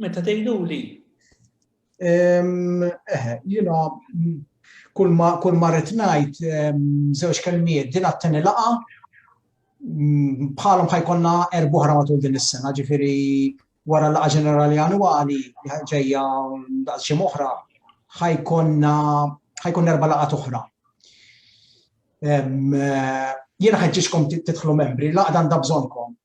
Meta tgħiduli? Eħe, jiena kull ma rrid ngħid żewġ kelmiet din għat-tieni laqa bħalhom ħajkonna erbuħra matul din is-sena, ġifieri wara laqa ġenerali annwali li ġejja daqs xi oħra ħajkonna ħajkun erba' laqgħat oħra. Jiena ħeġġiġkom tidħlu membri, laqgħa għandha bżonnkom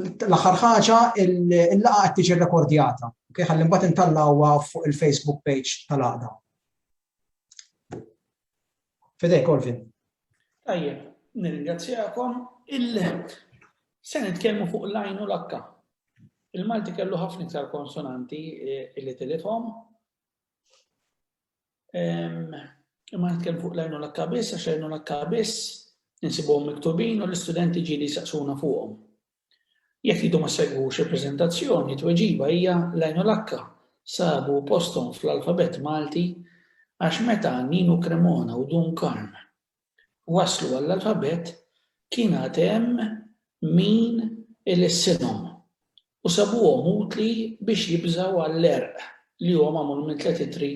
L-aħħar ħaġa, il-laqgħa qed tiġi rekordjata. Okay, ħalli mbagħad intallawha fuq il-Facebook page tal-għaqda. Fidej, Colvin. Tajjeb, nirringrazzjakom. Se nitkellmu fuq l-għajn u l-akka. Il-Malti kellu ħafna iktar konsonanti eh, li tilithom. Imma nitkellem fuq lajnu l-akka biss, għax lajnu l-akka biss, nsibuhom miktubin u l-istudenti ġili saqsuna fuqhom. Jekk jidu ma segwux il-prezentazzjoni, tweġiba hija lajnu l-akka sabu postom fl-alfabet Malti għax meta Ninu Cremona u Dun Karm waslu għall-alfabett kien għad hemm min ilissinhom u sabuhom utli biex jibżgħu għall-għerq li huwa magħmul minn tliet ittri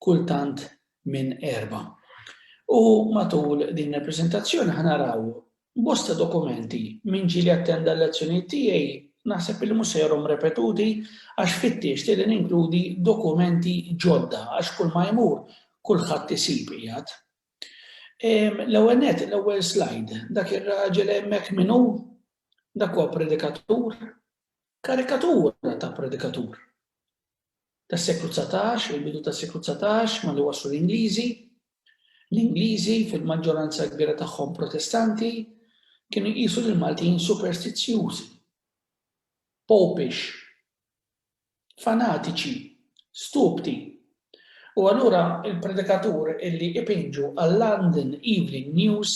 kultant minn erbgħa. U matul din il-preżentazzjoni ħa naraw bosta dokumenti min ġieli attenda l-lezzjonijiet tiegħi naħseb li mhux se jarhom repetuti għax fittixt li ninkludi dokumenti ġodda għax kulma jmur kulħadd isib qiegħed L-ewwel nett, l-ewwel slide, dak ir-raġel hemmhekk min hu? Dak huwa predikatur, karikatura ta' predikatur. Tas-seklu 19, il-bidu tas-seklu 19, ma li waslu l-Ingliżi, l-Ingliżi fil-maġġoranza kbira tagħhom protestanti kienu jqisu lil Maltin superstizzjużi, popish, fanatiċi, stupdi. U allura il-predikatur illi ipinġu għal-London Evening News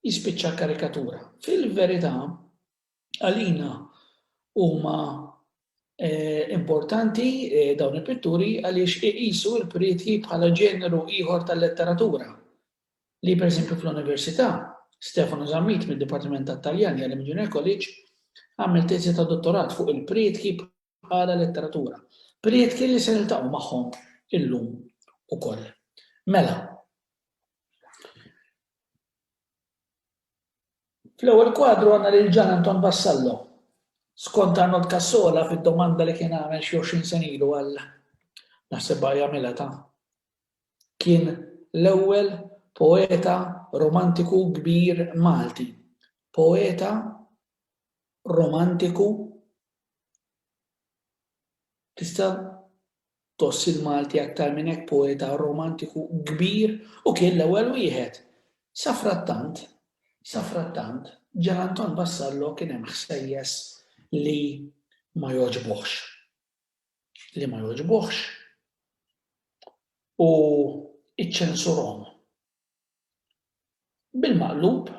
jispiċċa karikatura. Fil-verità, għalina huma eh, importanti eh, dawn il-pitturi għaliex iqisu l-prietji bħala ġeneru ieħor tal-letteratura li, pereżempju, fl-università, Stefano Zammit mid-Dipartiment tat-Taljan jgħallem il-Junior College għamel teżi ta' dottorat fuq il-prietki bħala letteratura, prietki li se niltaqgħu magħhom illum ukoll. Mela, fl-ewwel kwadru għandna lil Ġan Anton Vassallo, skont Arnold Cassola fid-domanda li kien għamel xi 20 sen ilu għal naħseb jagħmilha ta' kien l-ewwel poeta romantiku kbir Malti, poeta romantiku tista' tgħożż il-Malti aktar minn hekk poeta romantiku kbir u kien l-ewwel wieħed. Safrattant, safrattant, Ġan Anton Vassallo kien hemm ħsejjes li ma jogħġbuhx. li ma jogħġbuhx u iċċensurhom. Bil-maqlub,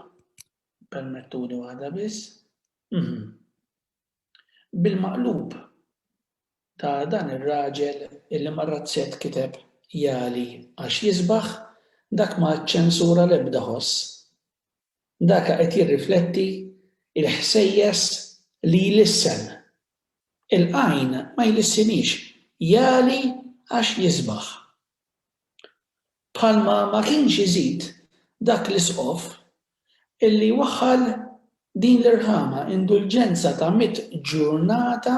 permettuni waħda biss, mhm. bil-maqlub ta' dan ir-raġel illi mar-razzett kiteb jali għax jisbaħ dak ma ċċensura l-ebda ħoss Daka qed jirrifletti il-ħsejjes li jlissen. Il-qajn ma jlissinix, jagħli għax jisbaħ. Bħalma ma kienx iżid dak l-isqof illi waħħal din l-irħama, indulġenza ta' mitt ġurnata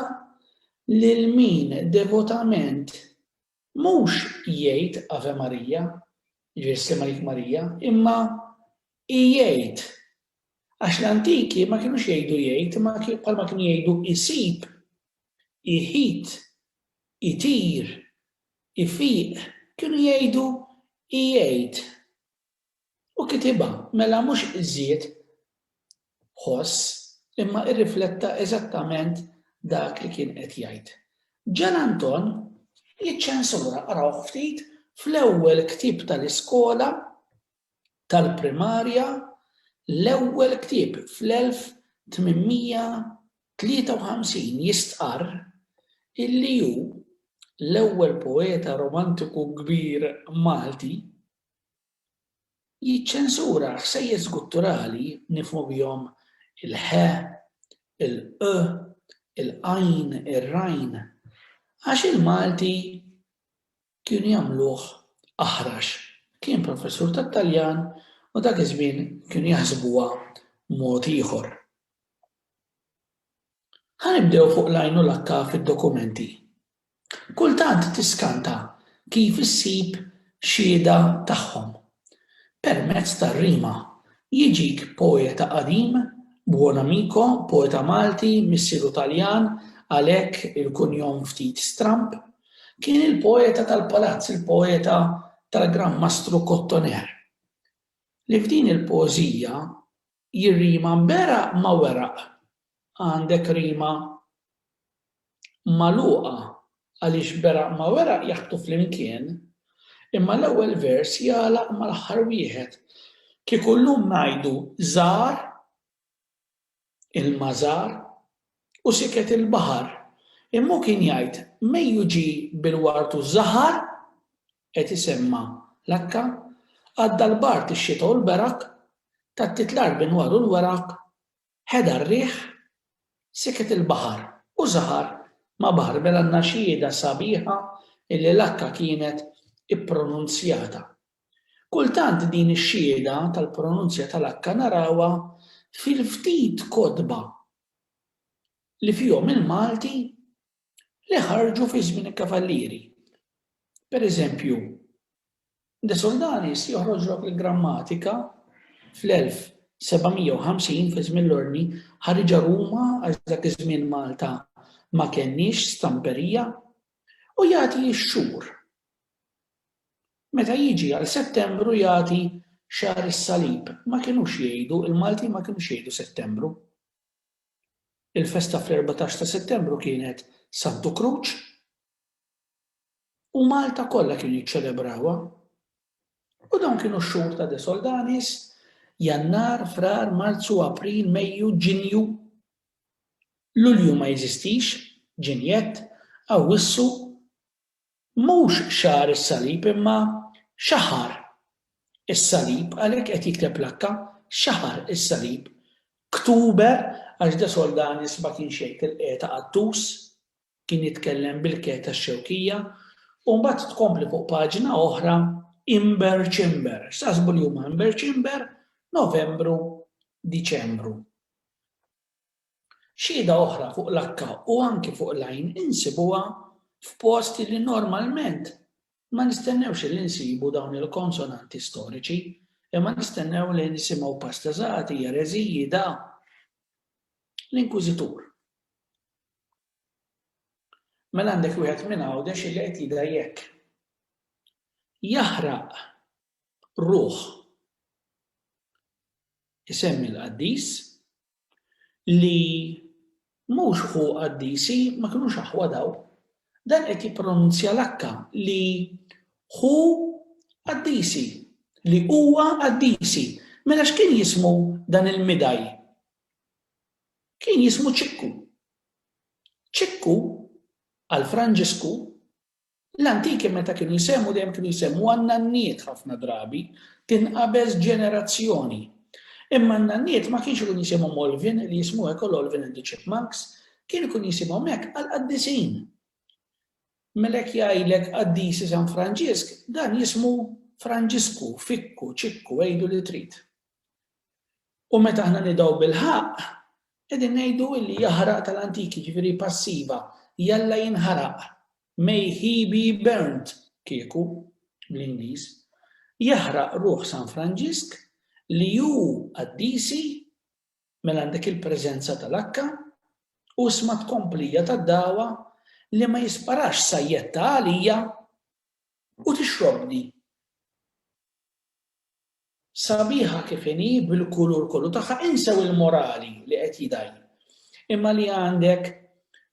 lil min devotament Mhux jgħid Ave Maria, jiġifieri Ssir Malik Marija, imma ijgħid. Għax l-antiki ma kinux jgħidu jgħid imma bħalma kienu jgħidu isib, iħit, itir, ifiq, kienu jgħidu ijgħid. U kitibha, mela mhux żied ħoss, imma irrifletta eżattament dak li kien qed jgħid. Gian Anton jiċċensura, qrawh ftit, fl-ewwel ktieb tal-iskola tal-primarja, l-ewwel ktieb fl-1853 jistqarr illi hu l-ewwel poeta romantiku kbir Malti, Jiċċensura ħsejjes gutturali nifhmu bihom il-ħ, il-q, il-qajn, ir-rajn, għax il-Malti kienu jagħmluh aħrax. Kien professur tat-Taljan u dak iż-żmien kienu jaħsbuha mod ieħor. Ħa nibdew fuq l-għajn u l-akka fid-dokumenti. Kultant tiskanta kif issib xhieda tagħhom. Permezz tar-rima, jiġik poeta qadim, buon amico, poeta Malti, missieru Taljan, għalhekk il-kunjom ftit stramb. Kien il-poeta tal-palazz, il-poeta tal-Gran Mastru Cottoner, li f'din il-poeżija Jirrima mberaq ma' weraq. Għandek rima magħluqa għaliex beraq ma' weraq jaħbtu flimkien, imma l-ewwel vers jagħlaq mal-aħħar wieħed. Kieku llum ngħidu żar ilma żar u siket il-baħar, imma hu kien jgħid mejju ġie bil-ward u żahar qed isemma' l-akka, għadda l-bard, ix-xita u l-berak, tattiet l-art b'inwar u l-weraq, ħeda r-riħ, siket il-baħar, u żahar ma' baħar mela n-naxxieda sabiħa illi l-akka kienet ippronunzjata. Kultant din ix-xhieda tal-pronunzja tal-akka narawha fil-ftit kotba li fihom il-Malti li ħarġu fi żmien il-kavallieri. Per eżempju, De Soldanis joħroġ lok il-grammatika fl-1750 fi żmien l-ordni ħariġa Ruma għax dak iż-żmien Malta ma kenniex stamperija u jagħti x-xhur. Meta jiġi għal Settembru jagħti xahar is-salib, ma kinux jgħidu, il-Maltin ma kinux jgħidu Settembru. Il-festa fl-erbatax ta' Settembru kienet Santu Kruċ u Malta kollha kienu jiċċelebrawha. U dawn kienu x-xhur ta' De Soldanis, Jannar, Frar, Marzu, April, Mejju, Ġinju. Lulju ma jeżistix, Ġinjett, Awwissu, Mhux xahar is-salib imma xahar is-salib għalhekk qed jikteb l-akka, xahar is-salib, ktuber għax de Soldanis ma kienx jgħid il-qegħta qattus, kien jitkellem bil-ke tax-Xewkija, u mbagħad tkompli fuq paġna oħra Imber Ċimber, x'taħsbu li huma Imber Ċimber, Novembru, Diċembru. Xhieda oħra fuq l-akka u anki fuq l-għajn insibuha f'posti li normalment ma nistennewx li nsibu dawn il-konsonanti storiċi, imma nistennew li nisimgħu pastazati, jereziji, da. L-Inkwiżitur. Mela għandek wieħed minn Għawdex li qed jidha jekk. Jaħraq ruħ isemmi l-qaddis li mhux ħu qaddisi ma kinux aħwa daw. Dan qed jippronunzja l-akka li ħu qaddisi, li huwa qaddisi. Mela x'kien jismu dan il-midaj? Kien jismu ċikku. ċikku għal Franġisku L-antiki meta kienu jsemmhu dejjem kienu jsemmhu għan-nanniet ħafna drabi, tinqabeż ġenerazzjoni. Imma n-nanniet ma kienx ikun jisimhom Olvin li jismu hekk ol Olvin and the Chipmunks, kien ikun jisimhom hekk għall-qaddisin. Mela jekk jgħidlek qaddisi San Franġisk, dan jismu Franġisku, Fikku, Ċikku, għidu li trid. U meta aħna nidaw bil-ħaq, qegħdin ngħidu illi jaħraq tal-antiki, ġifieri passiva, jalla jinħaraq, may he be burnt, kieku, bl-Ingliż. Jaħraq ruħ San Franġisk li hu qaddisi mela għandek il-preżenza tal-akka u sma tkomplija tad-dawa li ma jisparax sajjetta għalija u tixrobni. Sabiħa kif inhi bil-kulur kollu tagħha insew il-morali li qed jidgħi. Imma li għandek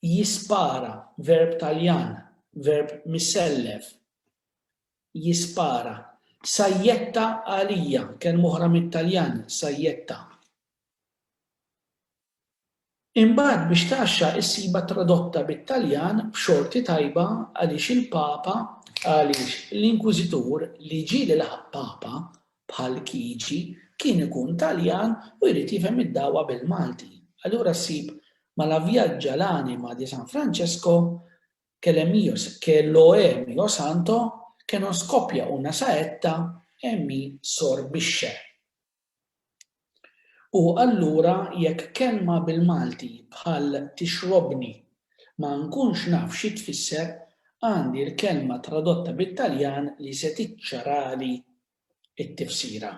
jispara, verb Taljan, verb misellef, jispara. Sajjetta għalija, kelma oħra mit-Taljan, sajjetta. Imbagħad biex tgħaxxa issibha tradotta bit-Taljan b'xorti tajba għaliex il-Papa għaliex l-Inkwiżitur li ġie li laħaq Papa bħal Kiġi kien ikun Taljan u jrid jifhem id-dagħwa bil-Malti. Allura ssib ma' La viaggia l'anima di San Francesco che le mio che lo è mio santo che non scoppia una saetta e mi sorbisce. U allura jekk kelma bil-Malti bħal tixrobni ma nkunx naf xi tfisser, għandi l-kelma tradotta bit-Taljan li se tiċċarali t-tifsira.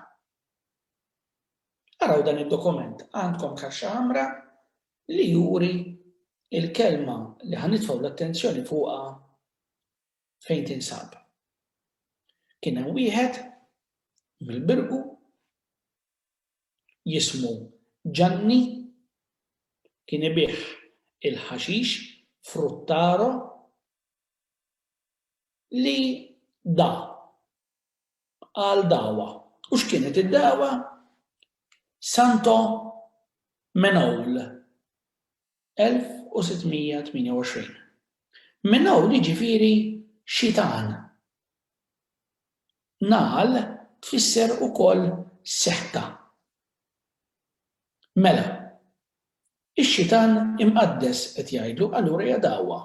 Araw dan id-dokument, għandkom kaxxa ħamra li juri l-kelma li ħa nitfgħu l-attenzjoni fuqha fejn tinsab. Kien hemm wieħed mill-Birqu jismu Ġanni kien ibigħ il-ħaxix Fruttaro li da għal dawa. U x'kienet id-dawa? Santo Menowl. 1628. Minn hawn jiġifieri xitan. Nagħal tfisser ukoll setta. Mela, ix-xitan imqaddes qed jgħidlu allura hija dagħwa.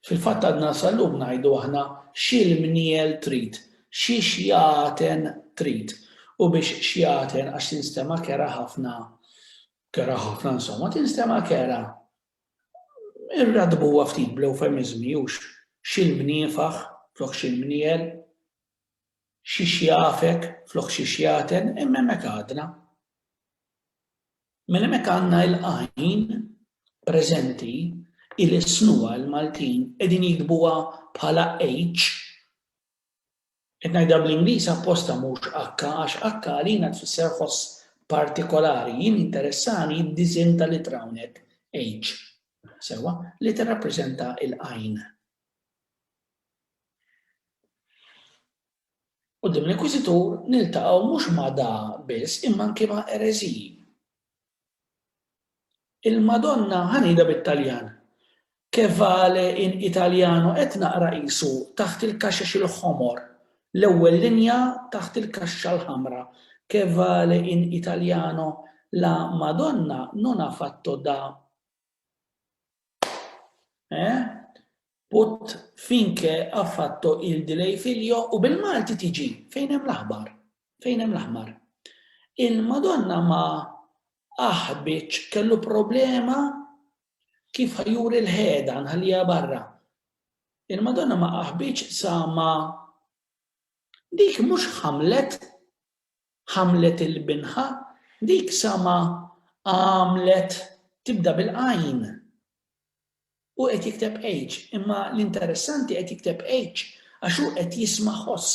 Fil-fatt għadna sal-lum ngħidu aħna x'il mniel trid, xi xjaten trid. U biex xjaten għax tinstema' kerha ħafna, kerha ħafna insomma, tinstema' kerha. Irraddbuha ftit bl-ewfemiżmi hux x'il mniefaħ flok x'il mniel, xi xjafek flok xi xjaten, imma hemmhekk għadna. Mela hemmhekk għandna il-għajn preżenti il-isnuha l-Maltin qegħdin jiktbuha bħala H. Qed ngħidha bl-Ingliż apposta mhux H għax H għalina tfisser ħoss partikolari. Jien jinteressani d-disinn tal-ittra hawnhekk H. Sewwa, li tirrappreżenta l-għajn. Quddiem l-Inkwiżitur niltaqgħu mhux ma' da biss imma anki ma' ereżiji. Il-Madonna ħa ngħidha bit-Taljan, Che vale in italiano qed naqra qisu taħt il-kaxex il-ħomor, l-ewwel linja taħt il-kaxxa l-ħamra, Che vale in italiano la Madonna non ha fatto da eh? Put finke ha fatto il di lei figlio u bil-Malti tiġi fejn hemm l-aħbar. Fejn hemm l-aħbar. Il-Madonna ma aħbitx kellu problema kif ħajuri l-ħeda nħallija barra. Il-Madonna ma aħbitx sa ma dik mhux ħamlet ħamlet il-binħa dik sa ma għamlet tibda bil-qajn. Hu qed jikteb age, imma l-interessanti qed jikteb H għax hu qed jisma' ħoss.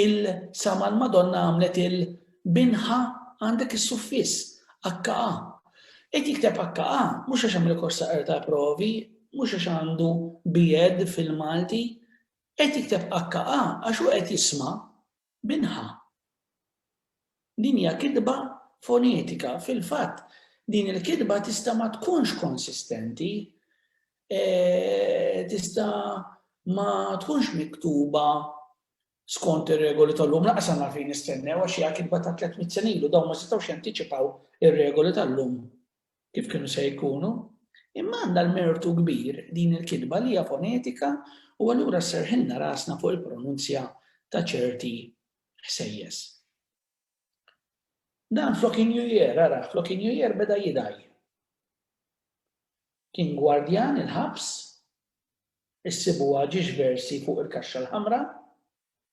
Il sa ma l-Madonna għamlet il bin ħa għandek is-suffiss, akka'a. Qed jikteb akka'a mhux għax għamel kors ta' qrata provi, mhux għax għandu B. Ed fil-Malti. Qed jikteb akka'a għax hu qed jisma' Minħa. Din hija kitba fonetika. Fil-fatt, din il-kitba tista' ma tkunx konsistenti, tista' ma tkunx miktuba skont ir-regoli tal-lum. Lanqas għandna għalfejn nistennew għax hija kitba ta' tliet mitt sena ilu, dawn ma setgħux jantiċipaw ir-regoli tal-lum. kif kienu se jkunu, imma għandha l-mertu kbir din il-kitba li hija fonetika u allura sserħilna rasna fuq il-pronunzja ta' ċerti ħsejjes. Dan flok injujer, ara, flok injujer beda jidaj. Kien gwardjan il-ħabs, issibu għagġiġ versi fuq il-kaxxa l-ħamra,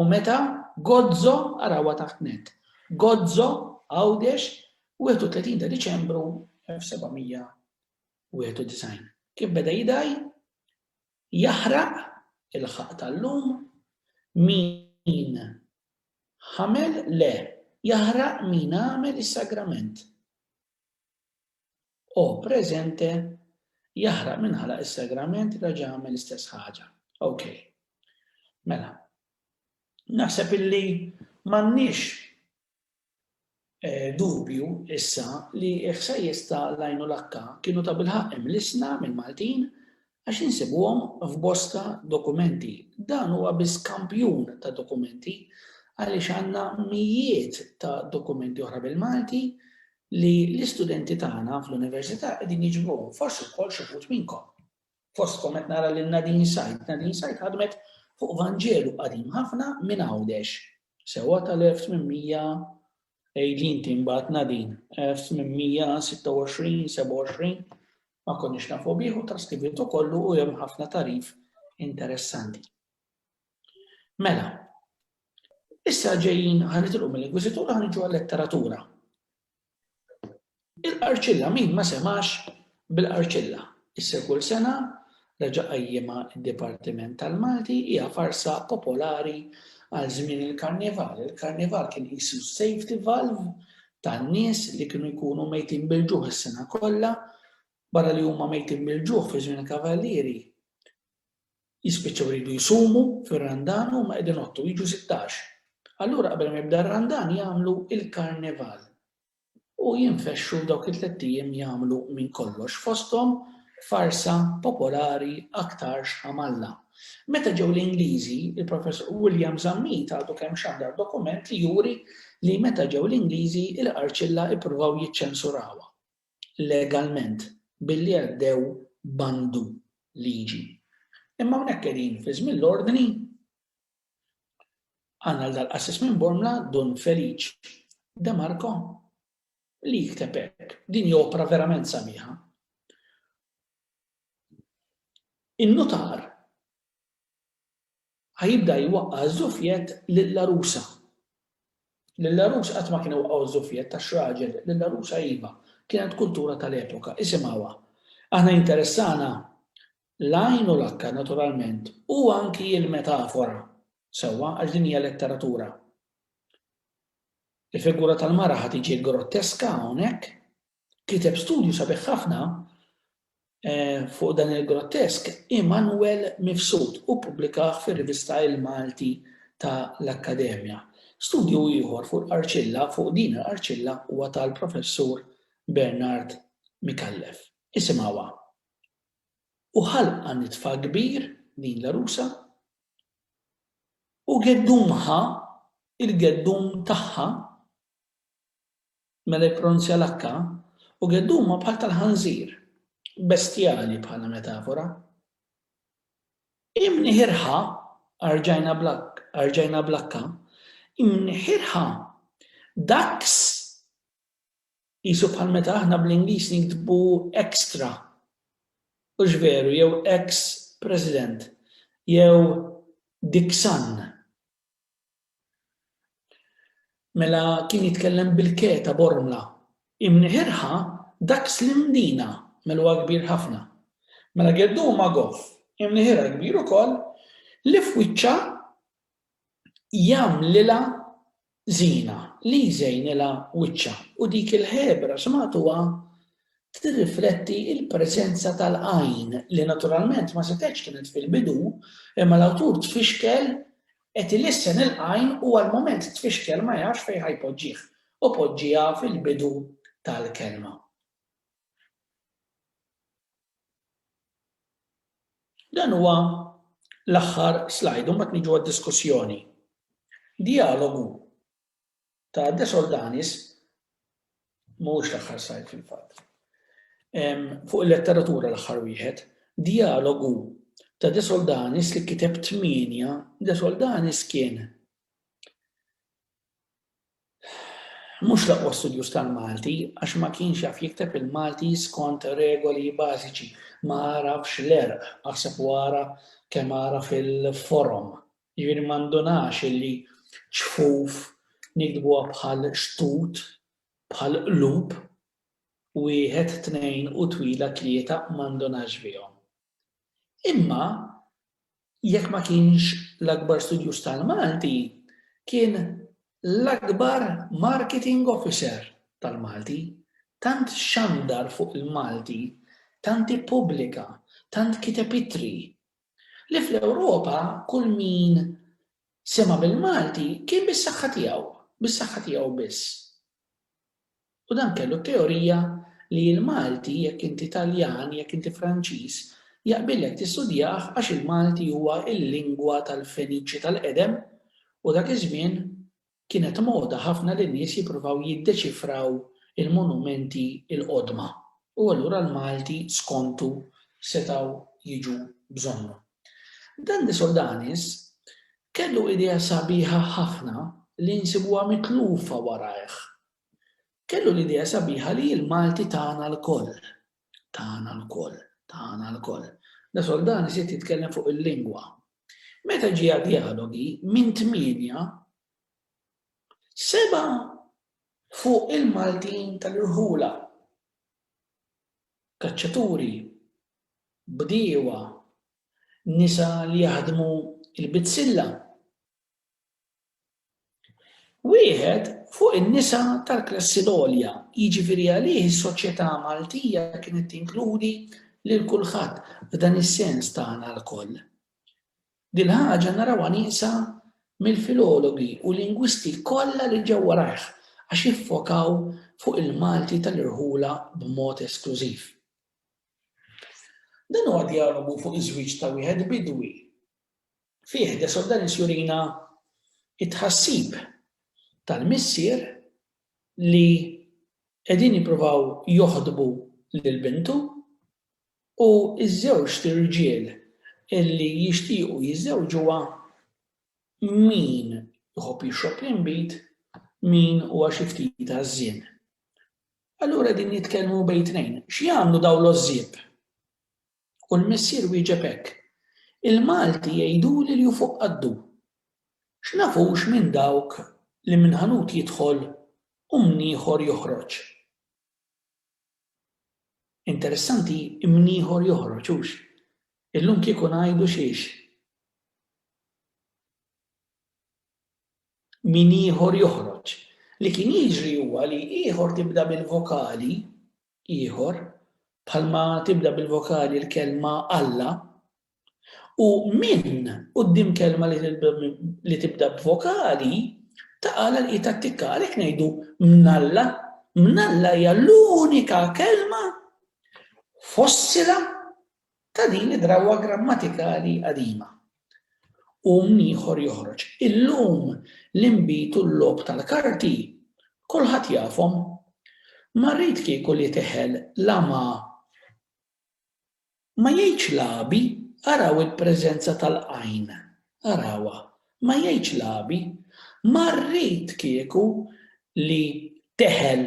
U meta Gozo, arawha taħt net, Gozo, Għawdex, 31 ta' Diċembru 1791. Kif beda jidgħi? Jaħraq il-ħaqq tal-lum min ħamel le, jaħraq min għamel is-sagrament. O presente Jaħraq min ħalaq is-sagrament raġa' għamel l-istess ħaġa. Ok. Mela. Naħseb illi m'għandniex eh, dubju issa li ħsejjes ta' lajnu lakka kienu ta' bilħaq imlisna mill-Maltin għax insibuhom f'bosta dokumenti. Dan huwa biss kampjun ta' dokumenti għaliex għandna mijiet ta' dokumenti oħra bil-Malti li l-istudenti tagħna fl-università qegħdin jiġbruhom, forsi wkoll xi wħud minnkom. Fostkom qed nara lil Nadine Said. Nadine Said ħadmet fuq Vanġelu qadim ħafna minn Għawdex, sewwa tal-1800 Ejli inti mbagħad Nadin, F 826-27, ma konniex nafu bih u traskribitu kollu u hemm ħafna tarif interessanti. Mela, issa ġejjin ħanitilqu mill-Inkwiżitura ħanġu għal-letteratura. Il-qarċilla min ma semgħax bil-qarċilla? Issa kull sena reġa' qajjimha d-Dipartiment tal-Malti hija farsa popolari għal żmien il-Karnival. Il-Karnival kien qisu s-safety valve tan-nies li kienu jkunu mejtin bil-ġuħ is-sena kollha, barra li huma mejtin bil-ġuħ fi żmien il-Kavallieri jispiċċaw iridu jsumu fir-Randan u huma qegħdin jgħottu, jiġu sittax. Allura qabel ma jibda r-Randan jagħmlu l-Karnival. u jinfexxu dawk it-tlett ijiem jagħmlu minn kollox fosthom farsa popolari aktarx ħamalla. Meta ġew l-Ingliżi, il-Professur William Zammit għadu kemm xandar dokument li juri li meta ġew l-Ingliżi il-Qarċilla ippruvaw jiċċensurawha legalment billi għaddew bandu liġi. Imma hawnhekk qegħdin fi żmien l-Ordni Għandna l-dal-qassis minn Bormla, Dun Feliċ De Marco, li jikteb hekk, Din hi opra verament sabiħa. In-nutar ħa jibda jwaqqa' ż-żufjett lill-għarusa. Lill-għarus qatt ma kien iwaqqgħu ż-żufjett għax raġel, lill-għarusa iva. Kienet kultura tal-epoka, isimgħuha. Aħna jinteressana L-għajn u l-akka, naturalment, u anki l-metafora, sewwa, għax din hija letteratura. Il-figura tal-mara ħa tiġi grotteska hawnhekk. Kiteb studju sabiħ ħafna eh, fuq dan il-grottesk Immanuel Mifsud u pubblikaħ fir-rivista Il-Malti ta' l-Akkademja. Studju ieħor fuq l-arċilla, fuq din l-arċilla huwa tal-professur Bernard Mikallef. Isimgħuha. u ħalqha nitfa kbir, din l-għarusa, u geddumha, il-geddum tagħha, mela jippronunzja l-H, u geddumha bħal tal-ħanżir, bestjali bħala metafora. Imniħirha, arġajna bl-H, arġajna bl-H, imniħirha, ducks, Qisu bħal meta aħna bl-Ingliż niktbu extra, hux veru, jew ex President, jew Dixon. Mela kien jitkellem bil-ke ta' Bormla. Imniħirha dak Slim Dina, mela huwa kbir ħafna. Mela geddu huma goff, imniħirha kbir ukoll, li f'wiċċha jagħmlilha żiena, li jżejnilha wiċċha, u dik il-ħebra xmagħtuha tirrifletti l-preżenza tal-għajn, li naturalment ma setgħetx kienet fil-bidu, imma l-awtur tfixkel qed ilissen il-għajn u għall-mument tfixkel ma jafx fejn ħa jpoġġih, u poġġiha fil-bidu tal-kelma. Dan huwa l-aħħar slide u mbagħad niġu għad-diskussjoni. Dijalogu ta' Desordanis mhuwiex l-aħħar slide fil-fatt. Fuq il-letteratura l-aħħar wieħed, dijalogu ta' Desordanis li kiteb tmienja, Desordanis kien Mhux l-aqwa studjuż tal-Malti għax ma kienx jaf jikteb il-Malti skont regoli bażiċi, ma għarafx l-għerq, aħseb u ara kemm għaraf il-forom. Jiġifieri ma ndunax illi ċfuf niktbuha bħal xtut, bħal qlub, wieħed, tnejn u twila tlieta ma ndunax bihom. Imma jekk ma kienx l-akbar studjuż tal-Malti, kien l-akbar marketing officer tal-Malti, tant xandar fuq il-Malti, tant ippubblika, tant kiteb ittri, li fl-Ewropa kull min sema' bil-Malti kien bis-saħħa tiegħu, bis-saħħa tiegħu biss. U dan kellu t-teorija li il-Malti, jekk inti Taljan, jekk inti Franċiż, jaqbillek tistudjah għax il-Malti huwa l-lingwa tal-Feniċi tal-qedem u dak iż-żmien kienet moda ħafna li n-nies jippruvaw jiddeċifraw il-monumenti l-qodma u allura l-Malti skontu setgħu jiġu bżonnhom. Dan li Sodanis kellu idea sabiħa ħafna li nsibuha mitlufa warajh. Kellu l-idea sabiħa li l-Malti tagħna lkoll. Tagħna lkoll. Tagħna lkoll. Da Soldani siet jitkellem fuq il-lingwa. Meta ġie għad dialogi minn tmienja seba fuq il-Maltin tal-irħula. Kaċċaturi bdiewa, nisa li jaħdmu l-bizzilla. Wieħed fuq in-nisa tal-klassi l-għolja, jiġifieri għalih is-soċjetà Maltija kienet tinkludi lil kulħadd f'dan is-sens tagħna lkoll. Dil-ħaġa narawha nieqsa mill-filologi u lingwisti kollha li ġew warajh għax iffokaw fuq il-Malti tal-irħula b'mod esklużiv. Dan huwa djalogu fuq iż-żwieġ ta' wieħed bidwi. Fih De Sordalis jurina t-tħassib tal-missier li qegħdin jippruvaw joħdbu lil bintu u ż-żewġt irġiel li jixtiequ jiżżewġuha min iħobb jixrob l-inbid, min huwa xi ftit għażżien. Allura qegħdin jitkellmu bejn tnejn. X'jagħmlu dawn l-għożżieb? U l-missier wieġeb hekk, Il-Malti jgħiduli li hu fuq qaddu. X'naf hux minn dawk li minn ħanut jidħol u minn ieħor joħroġ. Interessanti minn ieħor joħroġ hux. Illum kieku ngħidu xiex. min ieħor joħroġ. Li kien jiġri huwa li ieħor tibda bil-vokali ieħor, bħalma tibda bil-vokali l-kelma Alla, u min quddiem kelma li tibda b'vokali taqa' l-qiegħed attikka. Għalhekk ngħidu mnalla, mnalla hija l-unika kelma fossila ta' din id-drawwa grammatikali qadima. Qum ieħor joħroġ. Illum l-inbid u l-logħob tal-karti kulħadd jafhom. Ma rrid kieku li teħel la ma ma jgħidx lagħbi araw il-preżenza tal-qajn Arawha, ma jgħidx lagħbi. Ma rrid kieku li teħel,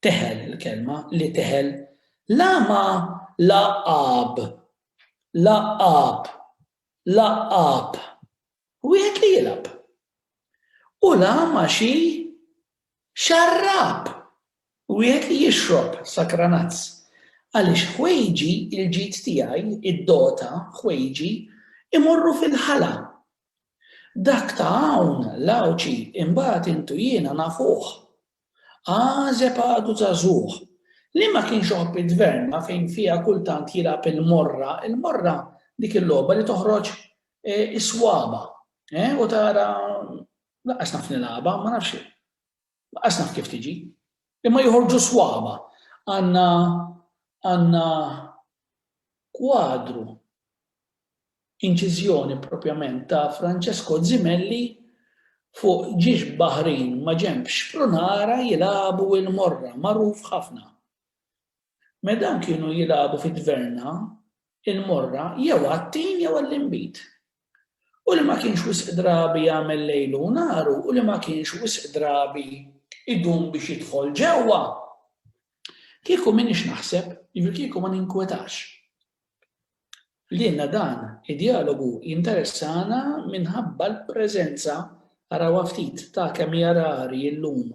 teħel il-kelma, li teħel la ma lagħab, lagħab, lagħab, wieħed li jilgħab, u la ma xi Xarrab! Wieħed li jixrob sakranazz. Għaliex ħwejġi, il-ġid tiegħi, id-dota, ħwejġi, imorru fil-ħala. Dak ta' hawn, l-Għawdxi, imbagħad int u jiena nafuh. Għażeb għadu żagħżugħ. Li ma kienx iħobb it-tverna fejn fiha kultant jilgħab il-morra, il-morra dik il-logħba li toħroġ is-swaba', eh, u tara Lanqas naf nilgħabha, ma nafx lanqas naf kif tiġi. Imma joħorġu swaba. Għandna għandna kwadru inċiżjoni propjament ta' Francesco Zimelli fuq ġiex baħrin ma' ġenb xprunara jilagħbu il-morra, magħruf ħafna. Me dawn kienu jilagħbu fi tverna, il-morra, jew għat-tin jew għall-inbid. U li ma kienx wisq drabi jagħmel lejlu u naru u li ma kienx wisq drabi idum biex jidħol ġewwa. Kieku m'iniex naħseb, jiġifieri kieku ma ninkwetax. Lilna dan id-djalogu jinteressana minħabba l-preżenza, arawha ftit, ta' kemm hija rari llum.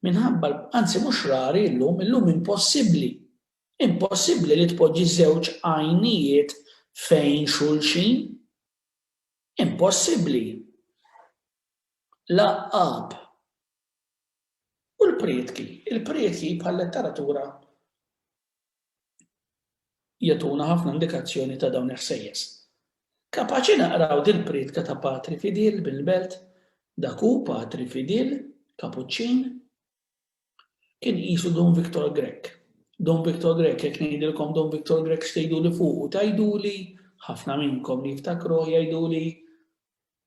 Minħabba, anzi mhux rari llum, illum impossibbli. Impossibbli li tpoġġi żewġ għajnijiet fejn xulxin. Impossibbli. L-għaqqab. U l-prietki, il-prietki bħal-letteratura jagħtuna ħafna indikazzjoni ta' dawn il-ħsejjes. Kapaċi naqraw dil-prietka ta' Patri Fidil bil-belt, dak hu Patri Fidil, Kapuċċin, kien qisu Dun Victor Grech. Dun Victor Grech, jekk ngħidilkom Dun Victor Grech x'tgħiduli fuqu, tgħiduli ħafna minnkom li jiftakruh jgħiduli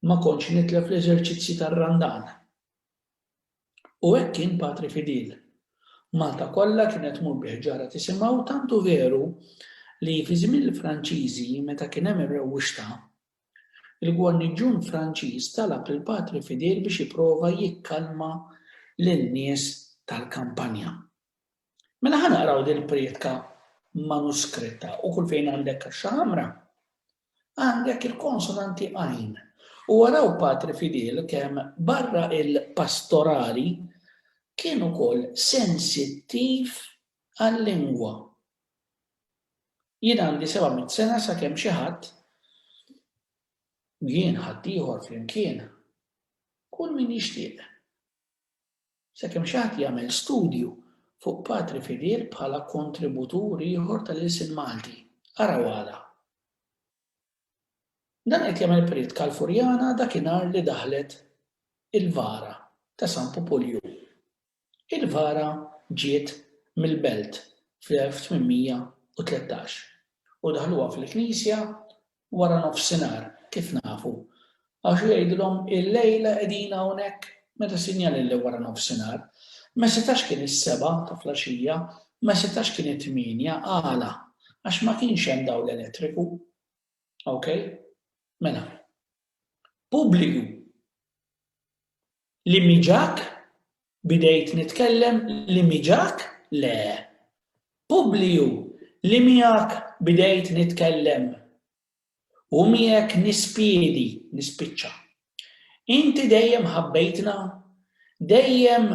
ma kontx nitlef l-eżerċizzji tar-Randan. U hekk kien Patri Fidil. Malta kollha kienet tmur bi ħġarha tisimgħu tant hu veru li fi żmien il-Franċiżi meta kien hemm ir-rewwixta, il-gwarniġġun Franċiż talab lil Patri Fidil biex jipprova jikkalma lin-nies tal-kampanja. Mela ħa naqraw dil-prietka manuskritta u kull fejn għandek kaxxa ħamra, Għandek il-konsonanti għajn. U araw Patri Fidel kemm barra il-pastorali kien ukoll sensittiv għal-lingwa. Jien għandi 700 sena sakemm xi ħadd jien ħaddieħor flimkien kull min jixtieq Sakemm xi ħadd jagħmel studju fuq patri fidel bħala kontributur ieħor tal-ilsien Malti. Araw għala. Dan qed jagħmel prietka l-Furjana dakinhar li daħlet il-vara ta' San Pupulju. Il-vara ġiet mill-Belt fl-1813 u daħluha fil-knisja wara nofsinhar, kif nafu, għax hu jgħidilhom illejla qegħdin hawnhekk, meta sinjali li wara nofsinhar. Ma setax kien is-sebgħa ta' flaxija, ma setax kien it-tmienja, għala? Għax ma kienx hemm dawl elettriku. Ok? Mela. Pubbliku. Li miġak Bidejt nitkellem li miġak? Le. Publiju, li miegħek bidejt nitkellem. U miegħek nispiedi, nispiċċa. Inti dejjem ħabbejtna? Dejjem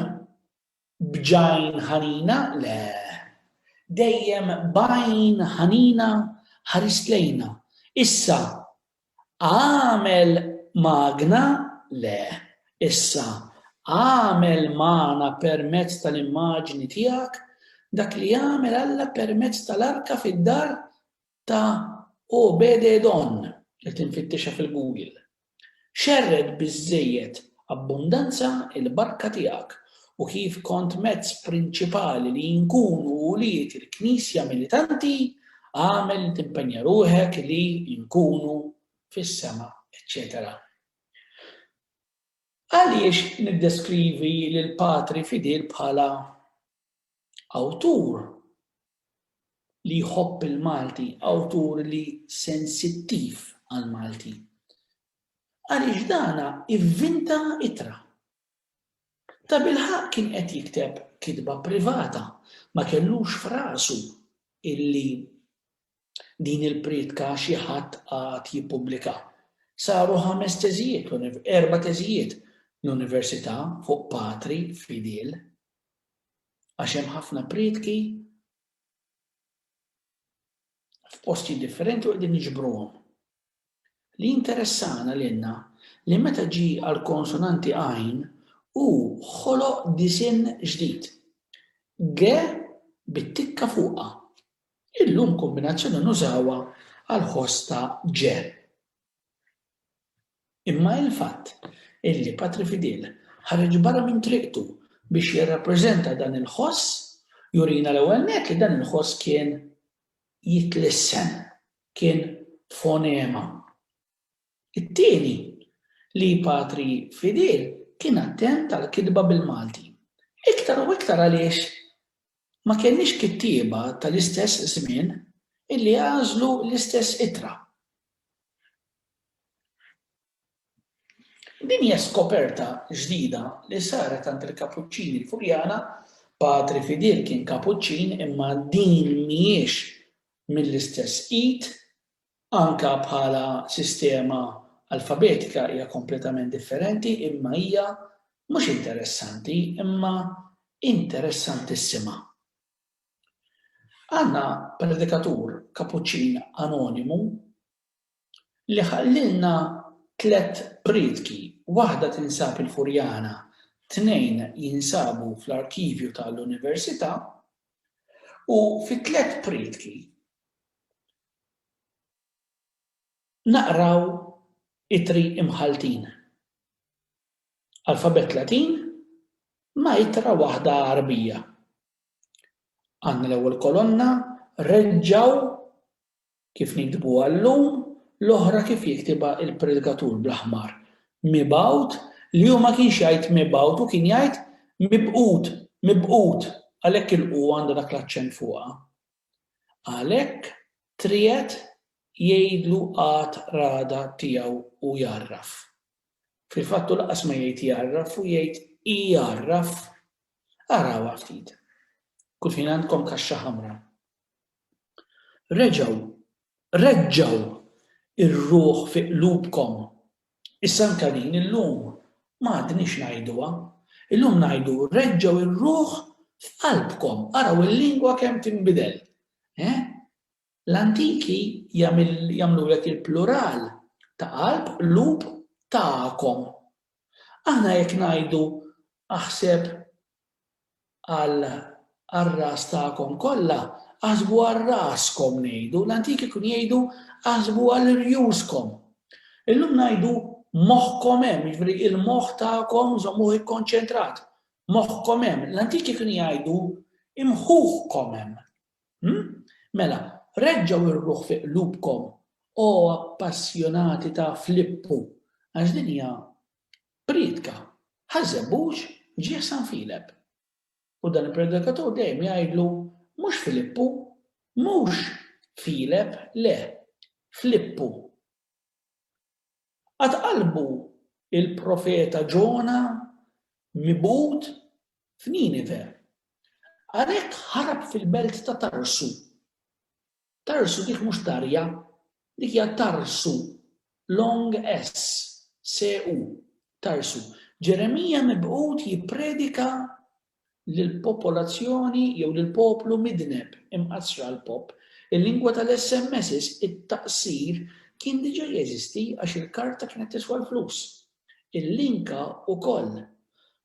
b'għajn ħanina? Le. Dejjem b'għajn ħanina ħarist lejna. Issa, Agħmel magna? Le. Issa, agħmel magħna permezz tal-immaġni tiegħek dak li għamel Alla permezz tal-arka fid-dar ta' Obed-Edon, qed infittixha fil-Google. Xerred biżżejjed Abbundanza il-barka tiegħek u kif kont mezz prinċipali li nkunu ulied il-Knisja militanti, agħmel li timpenja ruħek li nkunu fis-sema, eċċetera Għaliex niddeskrivi lil patri fidil bħala awtur li jħobb il-Malti, awtur li sensittiv għal-Malti? għaliex dan ivvinta ittra. Tabilħaqq kien qed jikteb kitba privata, ma kellux f'rasu illi din il-prietka xi ħadd għad jippubblika. Saru ħames teżijiet, erba' teżijiet l-università fuq patri fidil. Għax hemm ħafna prietki f'posti differenti u qegħdin niġbruhom. Li jinteressana lilna li meta ġie għall-konsonanti għajn, hu ħoloq disinn ġdid, ge bit-tikka fuqha. Illum kombinazzjoni nużawha għall-ħoss ta' ge. Imma il-fatt illi Patri Fidil ħareġ barra minn triqtu biex jirrappreżenta dan il-ħoss jurina l-ewwel nett li dan il-ħoss kien jitlissen. kien fonema. It-tieni, li Patri Fidil kien attent għall-kitba bil-Malti. Iktar u iktar għaliex ma kellniex kittieba tal-istess żmien illi għażlu l-istess ittra. Din hija skoperta ġdida li saret għand il-Kapuċċini l-Furjana, Patri Fidil kien Kapuċċin imma din mhijiex mill-istess id, anke bħala sistema alfabetika hija kompletament differenti imma hija mhux interessanti imma interessantissima. Għandna predikatur Kapuċċin anonimu Li ħallilna tliet prietki, waħda tinsab il-Furjana, tnejn jinsabu fl-arkivju ta' l-Università, u fit-tliet prietki naqraw ittri imħalltin, alfabett Latin ma' ittra waħda Għarbija. Għandna l-ewwel kolonna reġgħu Kif niktbuha llum, l-oħra kif jiktibha l-predikatur bl-aħmar, mibgħut, li hu ma kienx jgħid mibgħut, hu kien jgħid mibqut, mibqut, għalhekk il-qu għandha dak l-aċċent fuqha. Għalhekk, triegħed jgħidlu qagħad ragħda tiegħu u jgħarraf. Fil-fatt hu lanqas ma jgħid jgħarraf, hu jgħid igħarraf. Arawha ftit. Kulħin għandkom kaxxa ħamra. Reġgħu, reġġgħu r-ruħ fi qlubkom. Issa anke din illum ma għadniex ngħiduha. Illum ngħidu reġġgħu r-ruħ f'qalbkom. Araw il-lingwa kemm tinbidel. Eh? L-antiki jagħmlulek il-plural ta' qalb, qlub, tagħkom. Aħna jekk ngħidu aħseb, għal għar-ras tagħkom kollha, aħsbu għal raskom ngħidu, l-antiki kienu jgħidu aħsbu għal rjuskom. Illum ngħidu moħħkom hemm, jiġri il-moħħ tagħkom żommuh ikkonċentrat. Moħħkom hemm, l-antiki kienu jgħidu imħuħkom hemm. Hmm? Mela, reġġaw ir-ruħ fi qlubkom, o appassjonati ta' Flippu, għax din hija Priedka, Ħaż-Żebbuġ ġie San Filep. U dan il-predikatur dejjem jgħidlu, Mhux Filippu, mhux Filep, le, Flippu. Qatt qalbu l-profeta Ġona mibgħud f'Ninive. Għalhekk ħarab fil-belt ta' Tarsu. Tarsu dik mhux tarja, dik hija tarsu, long s, se u, tarsu. Ġeremija mibgħut jippredika lill-popolazzjoni jew lill-poplu midneb, imqassra l-pop. Il-lingwa tal-SMSs, it-taqsir, kien diġà jeżisti għax il-karta kienet tiswa l-flus. Il-linka wkoll.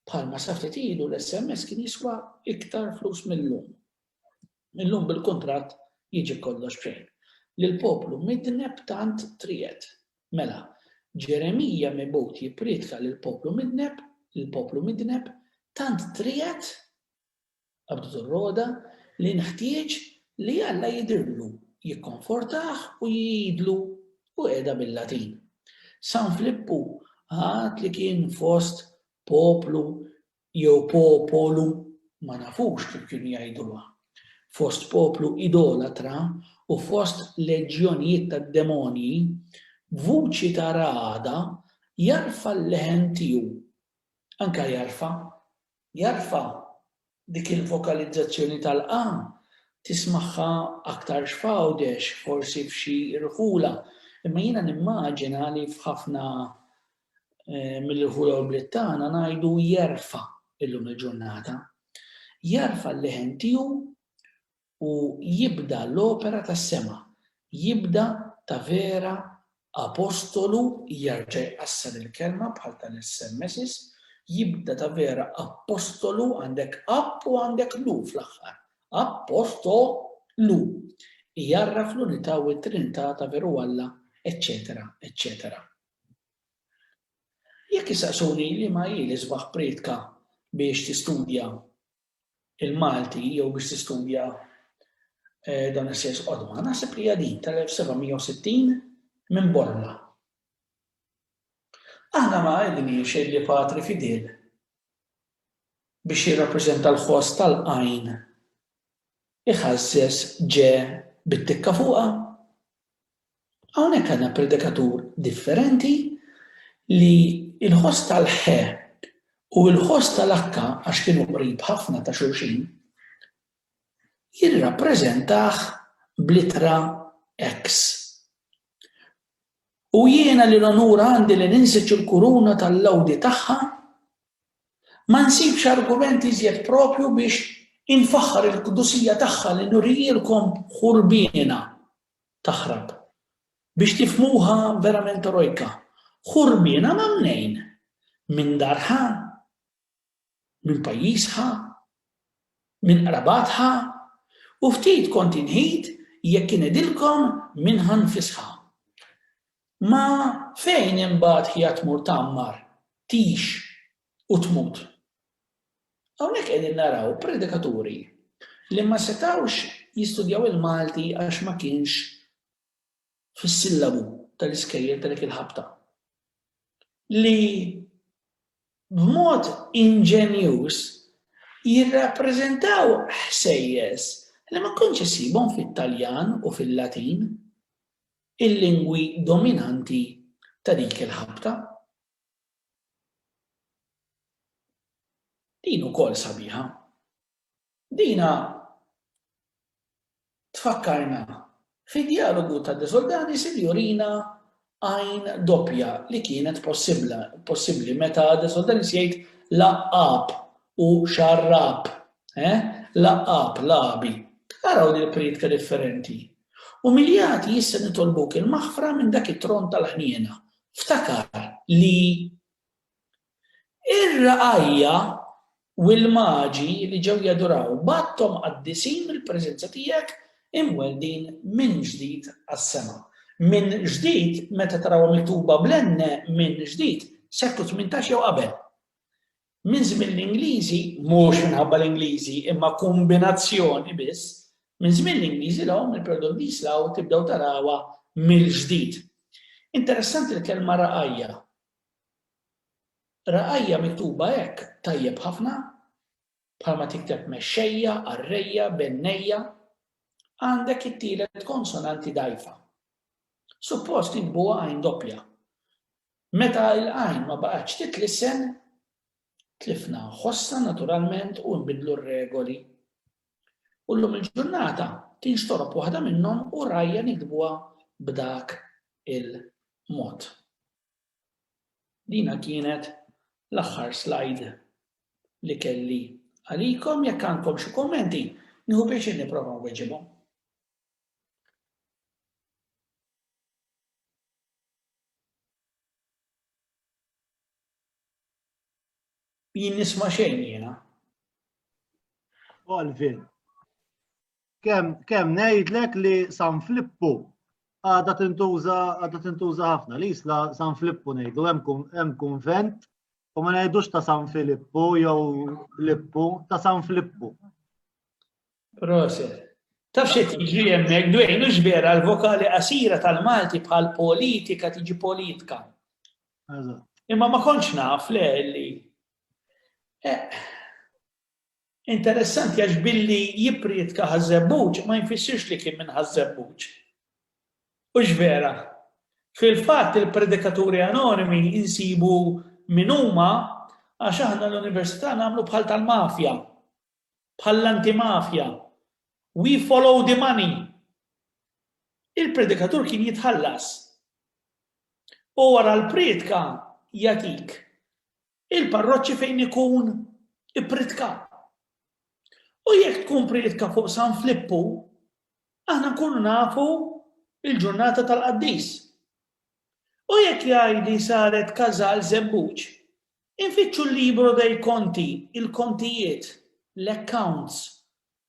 Bħalma sa ftit ilu l-SMS kien jiswa iktar flus mil-lum. Illum bil-kuntratt jiġi kollox b'xejn. Lill-poplu midneb tant triegħed. Mela, Ġeremija mibgħut jipprietka lill-poplu midneb, lill-poplu midneb, tant triegħed, qabdet ir-rogħda, li nħtieġ li Alla jidhirlu, jikkonfortah u jgħidlu, u qiegħda bil-Latin. San Flippu għad li kien fost poplu jew po-po-lu, ma nafux kif kienu jgħiduha, fost poplu idolatra u fost leġjonijiet tad-demonji, b'vuċi ta' ragħada jarfa' l-leħen tiegħu. Anke jarfa'. Jarfa'. Dik il-vokalizzazzjoni tal-qa tismagħha aktarx f'Għawdex, forsi f'xi rħula, imma jiena nimmaġina li f'ħafna mill ħula u bliet tagħna ngħidu jerfa' illum il-ġurnata. Jerfa' l-leħen tiegħu u jibda l-opera tas-sema, jibda ta' vera apostolu jerġa' jqassar il-kelma bħal tal-SMSs, jibda ta' vera apostolu għandek app u għandek lu fl-aħħar. Apostolu. Jarraf l-unità u t-trinità ta' veru Alla, eċċetera, eċċetera. Jekk issaqsuni liema hi l-isbaħ prietka biex tistudja l-Malti jew biex tistudja dawn is-sejs qodma, naħseb li hija din tal-1760 minn Bormla. Aħna ma għedniex li Patri Fidel biex jirrappreżenta l-ħoss tal-qajn iħażżeż ġe bit-tikka fuqha? Hawnhekk għandna predikatur differenti li l-ħoss tal-ħe u l-ħoss tal-akka, għax kienu qrib ħafna ta' xulxin, jirrappreżentah bl-ittra ex. U jiena li l-onur għandi li ninsiġ il-kuruna tal-lgħudi tagħha, ma nsibx argument iżjed proprju biex infaħħar il-qdusija tagħha li nurielkom ħurbiena. taħrab. Biex tifhmuha verament erojka, ħu rmiena ma' mnejn, minn dar ħa, minn pajjiż ħa, minn qrabat ħa, u ftit kont inghid jekk ingħidilkom minn ħa nfisha. Ma fejn imbagħad hija tmur tgħammar, tgħix, u tmut. Hawnhekk qegħdin naraw predikaturi li ma setgħux jistudjaw il-Malti għax ma kienx fis-sillabu tal-iskejjel ta' dik il-ħabta. Li b'mod inġenjuż jirrappreżentaw ħsejjes li ma kontx issibhom fit-Taljan u fil-Latin, il-lingwi dominanti ta' dik il-ħabta. Din ukoll sabiħa. Dina tfakkarna fi djalogu ta' De Soldanis li jurina għajn doppja li kienet possibbla, possibbli meta De Soldanis jgħid laqgħab u xarrab, eh? Laqgħab, lagħbi. Araw din il-priedka differenti. Umiljati issa nitolbuk il-maħfra minn dak it-tron tal-ħniena, Ftakar li r-ragħajja u l-maġi li ġew jaduraw bgħatthom qaddisin mill-preżenza tiegħek imweldin minn ġdid għas-sema. Minn ġdid meta tarawha miktuba bl-NN minn ġdid, seklu tmintax jew qabel. minn żmien l-Ingliżi, mhux minħabba l-Ingliżi, imma kombinazzjoni biss, minn żmien l-Ingliżi l-hawn il-Perdon Dis l-hawn tibdew tarawha mill-ġdid. Interessanti l-kelma raqajja. Raqajja miktuba hekk tajjeb ħafna, bħalma tikteb mexxejja, arrejja, bennejja, għandek it-tielet konsonanti dajfa. Suppost jikbuha għajn doppja. Meta l-għajn ma baqgħetx titlisen, tlifna ħossna naturalment u nbiddlu r-regoli. U llum il-ġurnata tinxtorob waħda minnhom u rajja niktbuha b'dak il-mod. Dina kienet l-aħħar slide li kelli għalikom, jekk għandkom xi kummenti, nieħu pjaċir nipprova nweġibhom. Jien nisma' xejn jiena. Alvin. Kemm kemm ngħidlek li San Flippu għadha tintuża għadha tintuża ħafna li jisla San Flippu ngħidu hemm kunvent u ma ngħidux ta' San Filippu jew Lippu ta' San Flippu. Proset. Taf xi tiġri hemmhekk dwejn hux vera l-vokali qasira tal-Malti bħal politika tiġi politka. Imma ma kontx naf le li. Eh, interessanti għax billi jiprietka ħażebbuġ ma jinfissirx li kien minn ħażebbuġ. Hux vera. Fil-fatt il-predikaturi anonimi insibu min huma għax aħna l-università nagħmlu bħal tal-mafja. bħall-antimafja, We follow the money! il-predikatur kien jitħallas. U wara l-prietka jagħtik il-parroċċi fejn ikun ippritka. U jekk tkun prietka fuq San Flippu, aħna nkunu nafu il-ġurnata tal-qaddis. U jekk jgħidli saret każal żebbuġ, Infittxu l-libro dei conti, il-kontijiet, l-accounts,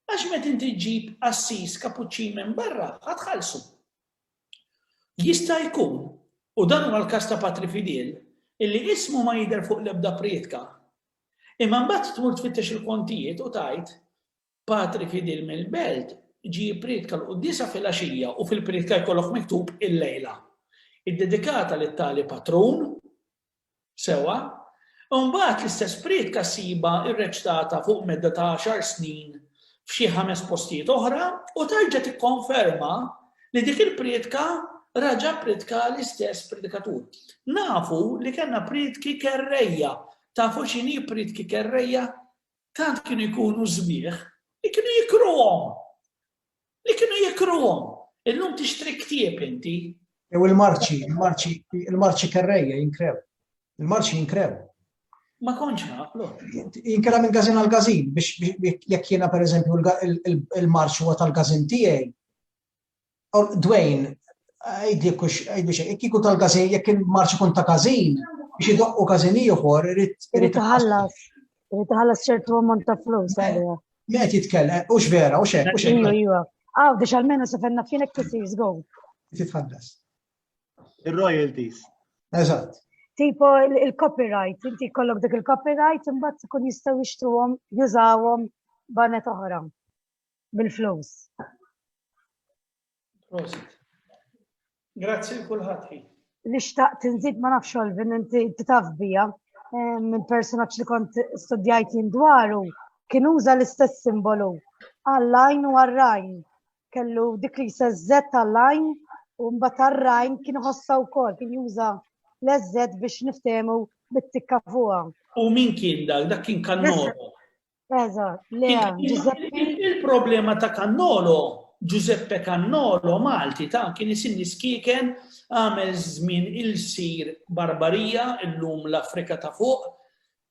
għax meta inti ġġib qassis Kapuċċin minn barra, ħa tħallsu. Jista' jkun, u dan huwa l-każ ta' Patri Fidel, illi ismu ma jidher fuq l-ebda prietka, imma mbagħad tmur tfittex il-kontijiet u tgħid, Patri Fidel mill-Belt ġie jipprietka l-quddiesa filgħaxija u fil-prietka jkollok miktub il-lejla, iddedikata lit-tali patrun, Sewwa, imbagħad l-istess prietka ssibha rreċtata fuq medda ta' għaxar snin f'xi ħames postijiet oħra u terġa' tikkonferma li dik il-prietka raġa' ppritkaha l-istess predikatur. Nafu li kellna prietki kerrejja. Tafu x'inhi prietki kerrejja? Tant kienu jkunu sbieħ li kienu jikruhom! Li kienu jikruhom. Illum tixtri ktieb inti. Jew il-marċi, il-marċi, il-marċi kerrejja jinkrew. Il-marċi jinkrew. Ma konċ naqlu. Jinkera minn gazin għal gazin biex jekk jiena per eżempju il-marċ huwa tal-gazin tiegħi. Dwayne, għajdi kux, għajdi xej, jekk jkun tal-gazin, jekk il-marċ ikun ta' gazin, biex idoqqu gazin ieħor, irrid. Irrid iħallas. Irid iħallas ċertu ammont ta' flus għaliha. Met jitkellem, u x'vera, u xek, u xek. Iju, iju. Għaw, biex għalmenu se fenna fienek tisir zgow. Titħallas. Il-royalties. Eżatt. Tipo il-copyright, inti kollok dik il-copyright, imbagħad ikun jistgħu jixtruhom, jużawhom banet oħra bil-flus. Prosit. Grazzi l kulħadd Li xtaqt nżid ma nafx Olvin inti taf bija minn personaġġ li kont studjajt jien dwaru kien uża l-istess simbolu għall-lajn u għar-rajn. Kellu dik li sezzet għall-lajn u mbagħad għar-rajn kien ħossa wkoll kien juża l-eżżet biex niftehmu bit-tikka fuqha. U min kien dak? Dak kien kannoro. Il-problema ta' Kannolo, Giuseppe Kannolo, Malti, ta' kien isinni skiken għamel żmien il-sir barbarija illum l-Afrika ta' fuq.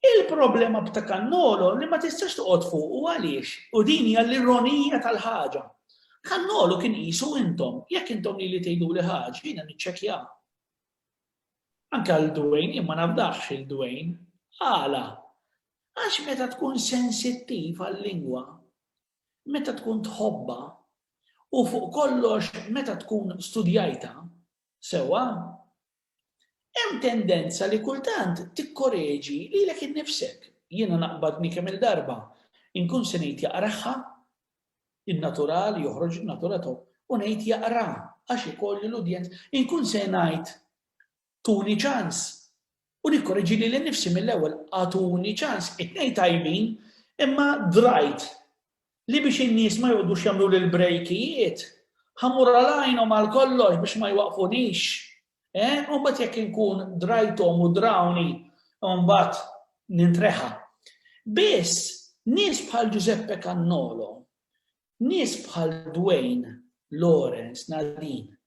Il-problema b'ta' Kannolo li ma tistax toqgħod fuq u għaliex, u din hija l-ironija tal-ħaġa. Kannolo kien qisu intom, jekk intom li li tgħidu li ħaġa, jiena niċċekja. Anke għal Dwayne, jien ma nafdax il-Dwayne. Għala? Għax meta tkun sensittiv għal-lingwa, meta tkun tħobbha, u fuq kollox meta tkun studjajtha sewwa, hemm tendenza li kultant tikkoreġi lilek innifsek. Jiena naqbadni kemm-il darba inkun se ngħid jaqragħha, in-natural joħroġ in-natura tiegħu, u ngħid jaqraha għax ikolli l-udjenza. Inkun se ngħid Tuni ċans. U nikkoreġi lili nnifsi mill-ewwel, agħtuni ċans. It-tnejn tajbin, imma drajt li biex in-nies ma joqgħodux jagħmluli l-brejkijiet, ħa mmur għal għajnhom għal kollox biex ma jwaqqfunix. Eħ, u mbagħad jekk inkun drajthom u drawni, mbagħad nintreħa. Biss, nies bħal Ġużeppe Cannolo, nies bħal Dwayne, Lawrence, Nadine,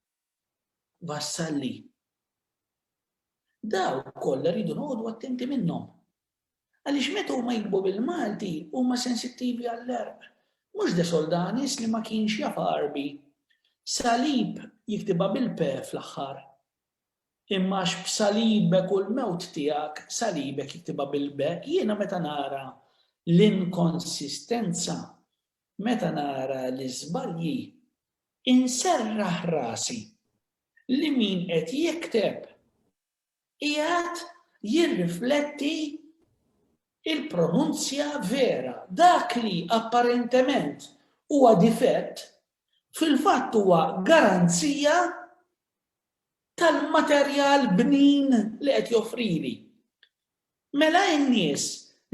wassal li daw kollha rridu noqogħdu attenti minnhom. Għaliex meta huma jikbu bil-Malti huma sensittivi għall-erq. Mhux de Soldanis li ma kienx jaf Għarbi. Salib jiktibha bil-pe fl-aħħar. Imma għax b'salibek u l-mewt tiegħek salibek jiktibha bil-be, jiena meta nara l-inkonsistenza, meta nara l-iżbalji, Inserraħ rasi li min qed jikteb qiegħed jirrifletti l-pronunzja vera. Dak li apparentement huwa difett, fil-fatt huwa garanzija tal-materjal bnin li qed joffrili. Mela in-nies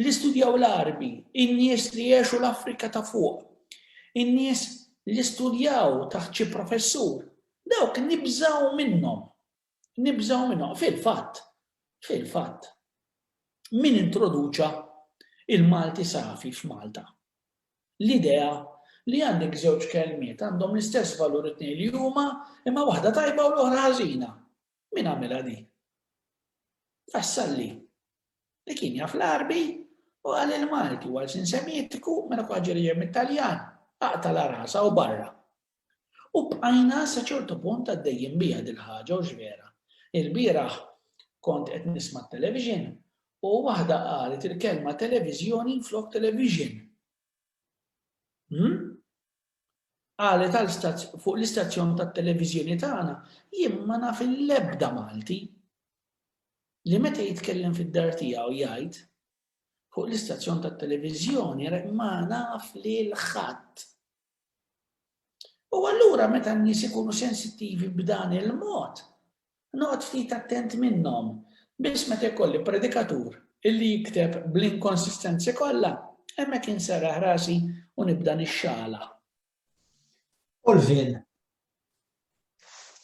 li studjaw l-Għarbi, in-nies li għexu l-Afrika ta' Fuq, in-nies li studjaw taħt xi professur, dawk nibżgħu minnhom. Nibżgħu minnhom. Fil-fatt, fil-fatt, min introduċa l-Malti safi f'Malta? L-idea li għandek żewġ kelmiet għandhom l-istess valur it-tnejn li huma imma waħda tajba u l-oħra ħażina. Min għamilha din? Vassalli, li kien jaf l-Għarbi u qal li l-Malti huwa lsien Semitiku mela kull ħaġa li ġejja mit-Taljan aqtala rasha u barra. U bqajna sa ċertu punt għaddejjin biha dil-ħaġa hux vera? Ilbieraħ kont qed nisma' t-television u waħda qalet il-kelma televiżjoni flok television. Hm? Qalet għal fuq l-istazzjon tat-televiżjoni tagħna, jien ma naf l-ebda Malti li meta jitkellem fid-dar tiegħu jgħid fuq l-istazzjon tat-televiżjoni ma naf lil ħadd. U allura meta n-nies ikunu sensittivi b'dan il-mod, Noqgħod ftit attent minnhom, biss meta jkolli predikatur li jikteb bl-inkonsistenzi kollha, hemmhekk inserraħ rasi u nibda nixxaħlaħ. Olvin,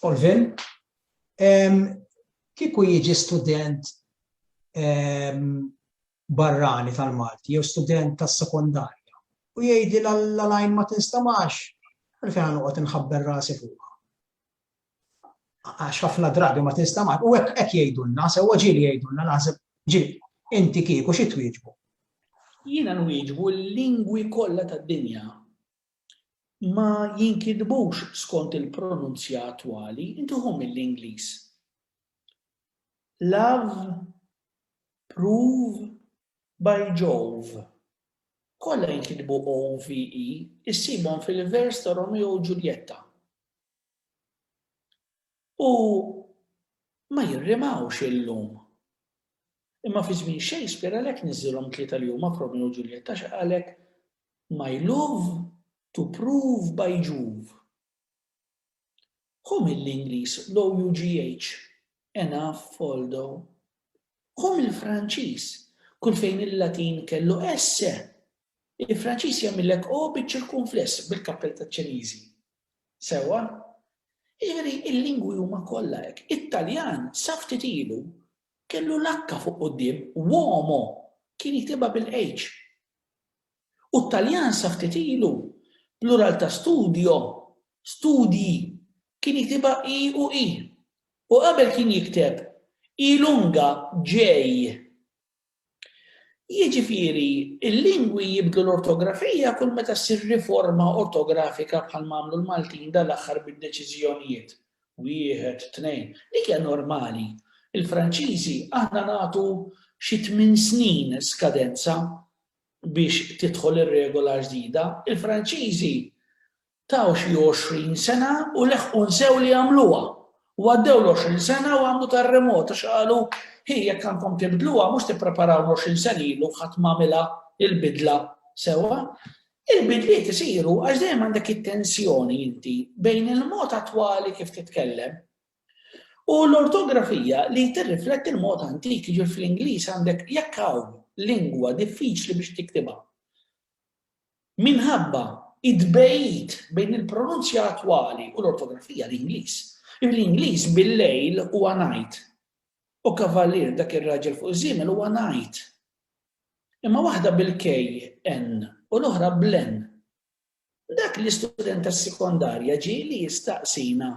Olvin, kieku jiġi student barrani tal-Malti jew student tas-sekondarja u jgħidi l-lajn ma tinstamax, għalfejn noqgħod inħabber rasi fuqha. għax ħafna drabi ma tinstamax u hekk hekk jgħidulna, sewwa ġieli jgħidulna naħseb ġieli, inti kieku xi twieġbu? Jiena nwieġbu li l-lingwi kollha tad-dinja ma jinkitbux skont il-pronunzja attwali, inti ħu mill-Ingliż. Love, prove, by Jove. Kollha jinkitbu OVE, issibhom fil-vers ta' Romeo u Ġuljetta. U ma jirrimawx illum. Imma fi żmien Shakespeare għalhekk niżżilhom tlieta li huma f'Romeo u Ġuljetta għax qalek My love to prove by Juv. Hu mill-Ingliż l-OUGH, Enough, Foldo. Hu mill-Franċiż, kull fejn il-Latin kellu esse, il-Franċiż jagħmillek o biċ-ċirkunfless bil-kappell taċ-Ċiniżi. Sewwa? Jiġifieri l-lingwi huma kollha hekk. It-Taljan sa ftit ilu kellu l-H fuq quddiem, uomo, kien jiktibha bil-H. U t-Taljan sa ftit ilu, plural ta' studio, studji, kien jiktibha i u i. U qabel kien jikteb, i lunga j. Jiġifieri, il-lingwi jibdlu l-ortografija kull meta ssir riforma ortografika bħalma għamlu l-Maltin dal-aħħar bid-deċiżjonijiet, wieħed, tnejn. Dik hija normali. Il-Franċiżi aħna nagħtu xi tmien snin skadenza biex tidħol ir-regola ġdida. Il-Franċiżi Taw xi għoxrin sena u leħqu nsew li jagħmluha. U għaddew l-għoxrin sena u għamlu terremot għax qalu, Hi, jekk għandkom tibdluha, mhux tippreparaw l-għoxrin sena ilu ħadd ma għamilha l-bidla sewwa? Il-bidliet isiru għax dejjem għandek it-tensjoni inti bejn il-mod attwali kif titkellem u l-ortografija li tirrifletti l-mod antik, jiġifieri fl-Ingliż għandek jekk hawn lingwa diffiċli biex tiktibha. Minħabba t-tbegħid bejn il-pronunzja attwali u l-ortografija l-Ingliż, bl-Ingliż bil-lejl huwa night u kavallier dak ir-raġel fuq iż-żiemel huwa knight. Imma waħda bil-KN u l-oħra bl-N. Dak l-istudent tas-sekondarja ġie li jistaqsina,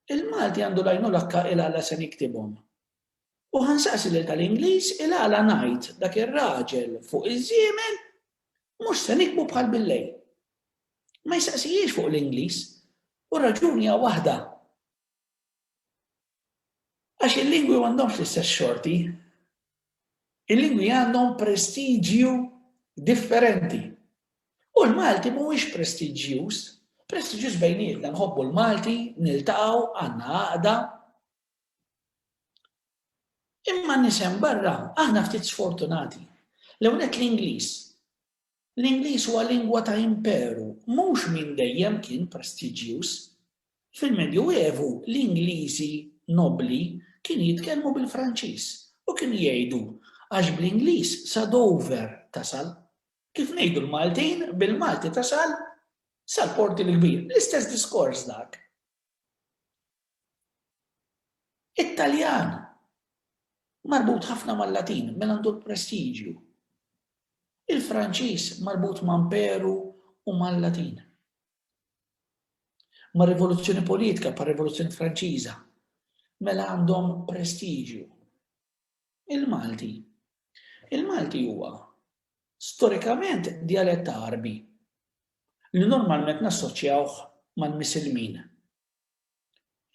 Il-Malti għandu l-għajnuna kk ilha la se niktibhom? U ħa nsaqsi lil tal-Ingliż il-għala ngħid dak ir-raġel fuq iż-żiemel mhux se nikbu bħal bil-lejl. Ma jistaqsihiex fuq l-Ingliż u r-raġuni hija waħda. Għax il-lingwi m'għandhomx l-istess xorti. Il-lingwi għandhom prestiġju differenti. U l-Malti mhuwiex prestiġjuż, prestiġjuż bejnietna nħobbu l-Malti, niltaqgħu, għandna għaqda, Imma n-nies hemm barra, aħna ftit sfortunati. L-ewwel nett l-Ingliż. L-Ingliż huwa lingwa ta' imperu, mhux minn dejjem kien prestiġjuż. Fil-Medju Evu l-Ingliżi nobbli kienu jitkellmu bil-Franċiż u kienu jgħidu għax bl-Ingliż sa Dover tasal. Kif ngħidu l-Maltin, bil-Malti tasal sal-Porti l-Kbir. L-istess diskors dak. It-Taljan, marbut ħafna mal-Latin, mela għandu l-prestiġju. Il-Franċiż marbut ma' Imperu u mal-Latin. Ma' rivoluzzjoni politika, pa' rivoluzzjoni Franċiża, mela għandhom prestiġju. Il-Malti. Il-Malti huwa storikament dialett Arbi. li normalment nassoċjawh mal-Misilmin.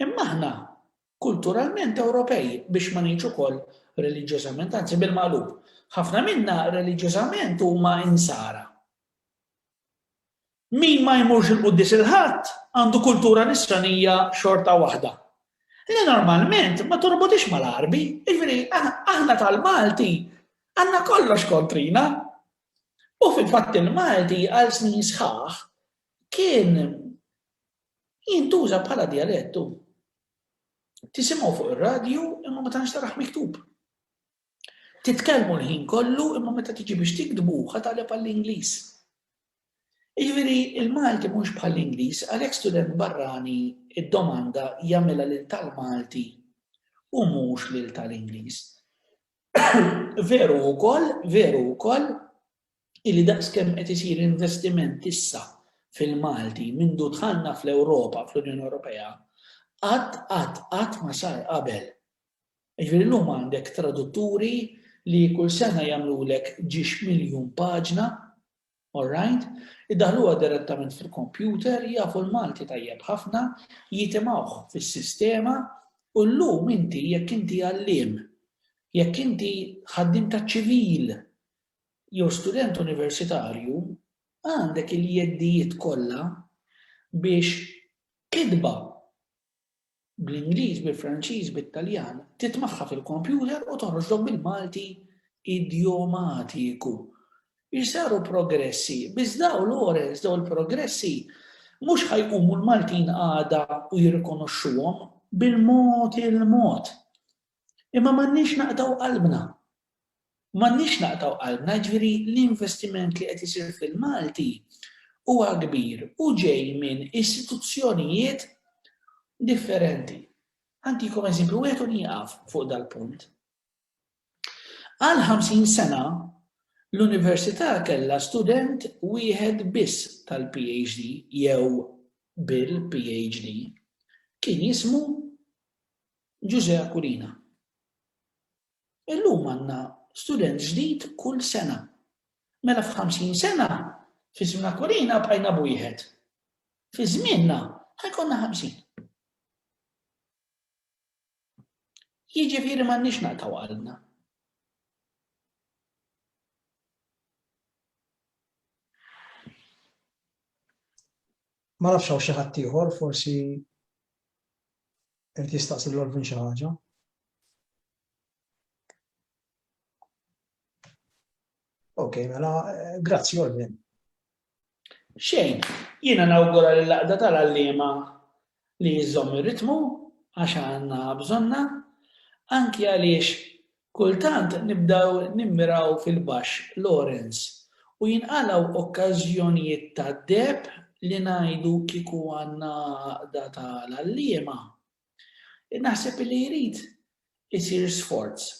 Imma aħna kulturalment Ewropej, biex ma ngħidx ukoll reliġjożament, anzi bil-maqlub, ħafna minna reliġjożament huma Insara. Min ma jmurx il-Quddies il-Ħadd għandu kultura nisranija xorta waħda. Li normalment ma torbotix mal-Għarbi, jiġifieri aħna tal-Malti għandna kollox kontrina, U fil-fatt il-Malti għal snin sħaħ kien jintuża bħala dialett u tisimgħu fuq ir-radju imma ma tantx taraħ miktub. Titkellmu l-ħin kollu imma meta tiġi biex tiktbu ħataleb għall-Ingliż. Jiġifieri il-Malti mhux bħall-Ingliż għalhekk student barrani id-domanda jagħmilha lil tal-Malti u mhux lil tal-Ingliż. Veru wkoll, veru wkoll, illi daqskemm qed isir investiment issa fil-Malti mindu dħalna fl-Ewropa, fl-Unjoni Ewropea, qatt qatt qatt ma sar qabel. Jiġifieri llum għandek tradutturi li kull sena jagħmlulek ġiex miljun paġna All right. Iddaħħluha direttament fil-computer, jafu l-Malti tajjeb ħafna, jitimgħuh fis-sistema u llum inti jekk inti għalliem, jekk inti ħaddiem taċ-ċivil jew student universitarju, għandek il-jeddijiet kollha biex kitba bl-Ingliż, bil-Franċiż, bit-Taljan, titmagħha fil-kompjuter u toħroġlok bil-Malti idjomatiku. Isaru progressi, biss dawn Lawrence, dawn il-progressi mhux ħa jqumu l-Maltin għada u jirrikonoxxuhom bil-mod il-mod. Imma m'għandniex naqtgħu qalbna. M'għandniex naqtgħu qalbna, jiġifieri l-investiment li qed isir fil-Malti huwa kbir u ġej minn istituzzjonijiet differenti. Ħantikom eżempju wieħed u nieqaf fuq dal-punt. Għal 50 sena l-università kellha student wieħed biss tal-PhD jew bil-PhD. Kien jismu Ġużè Aquilina. Illum għandna student ġdid kull sena. Mela f'ħamsin sena, fi żmien Aquilina bqajna b'wieħed. Fi żmienna ħa jkollna ħamsin. Jiġifieri m'għandniex naqtaw qalbna. Ma nafx hawn xi ħadd ieħor forsi irid jistaqsi lil Alvin xi ħaġa. Ok, mela, eh, grazzi Alvin. Xejn, jiena nawgura li laqda tal-għallima li jizzom ir-ritmu għax għandna bżonna, anki għaliex Kultant nibdew nimmiraw fil-baxx, Lawrence, u jinqalgħu okkażjonijiet ta' deheb li ngħidu kieku għandna għaqda ta' l-għalliema. Naħseb li jrid isir sforz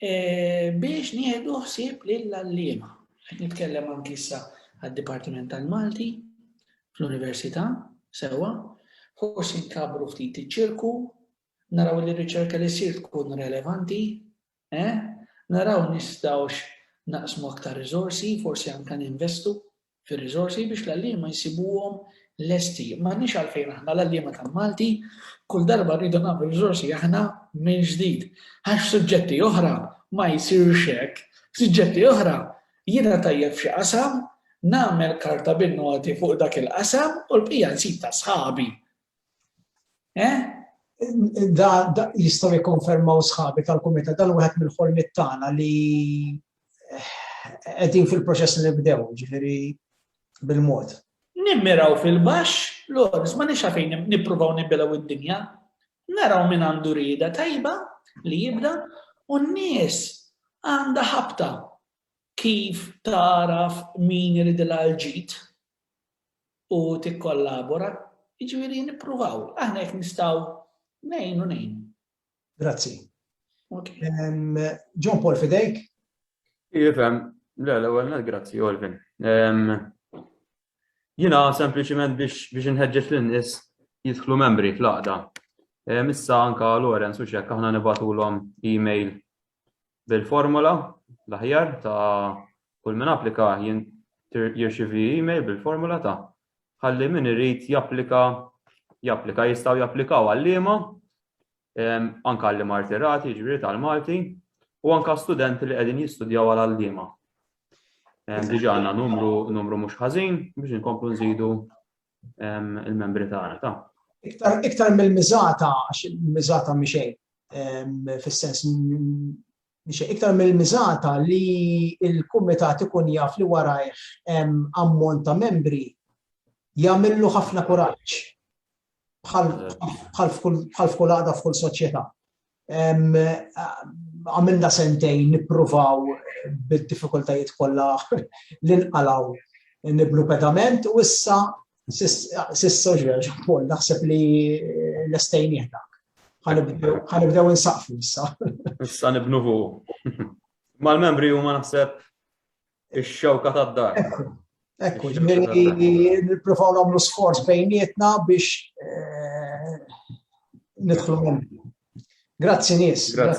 biex nieħdu ħsieb lill-għalliema. Qed nitkellem anki issa għad-Dipartiment tal-Malti fl-Università, sewwa, forsi nkabbru ftit iċ-ċirku naraw li r-riċerka li ssir tkun relevanti, eh, naraw nistgħux naqsmu aktar riżorsi, forsi anke ninvestu fir-riżorsi biex l-għalliema jsibuhom lesti. M'għandniex għalfejn aħna l-għalliema tal-Malti kull darba rridu nagħmlu riżorsi aħna minn ġdid. Għax suġġetti oħra ma jsirx hekk. Suġġetti oħra jiena tajjeb f'xi qasam, nagħmel karta bin-noti fuq dak il-qasam u l-bqija nsib ta' sħabi. Eh? Da, da jistaw jikonfermaw sħabi tal-kumita dan wieħed mill-ħolmiet tagħna li eh, qegħdin fil-proċess li nibdew, ġifieri bil-mod. Nimmiraw fil-baxx, l-ors ma nix fejn nippruvaw nibbilaw id-dinja, naraw minn għandu rida tajba li jibda u n-nies għandha ħabta kif taraf min irid l-ġid u tikkollabora, jiġifieri nippruvaw. Aħna jekk nistgħu ngħinu ngħinu. Grazzi. John Paul fidejk? Jifhem, le l-ewwel net grazzi Olvin. Jiena sempliċiment biex biex inħeġġeġ lin-nies jidħlu membri fl-għaqda. Issa anka Lorenz u xekk aħna nibatulhom email bil-formola l-aħjar ta' kull min applika jirċivi email bil-formola ta' ħalli min irid japplika japplika jistgħu japplikaw għalliema anke għalli martirati ġifieri tal-Malti u anke studenti li qegħdin jistudjaw għal għalliema. Diġà għandna numru numru mhux ħażin biex inkomplu nżidu il-membri tagħna ta'. Iktar, iktar mill-miżata, għax il-miżata miexej, fis-sens miexej, iktar mill-miżata li il-kumitat ikun jaf li warajh ammont ta' membri jagħmillu ħafna kuraġġ bħal f'kull għada f'kull soċjetà. Għamilna sentejn nippruvaw bid-diffikultajiet kollha li nqalgħu nibnu pedament u issa sissa ġraġ ukoll naħseb li lestejn jieħdak. Ħanibdew insaqfu issa. Issa nibnu fuq. Mal-membri huma naħseb Ix-xewka tad-dar. Ekku, nippruvaw nagħmlu sforz bejnietna biex eh, nidħlu minn. Grazzi nies. Grazzi.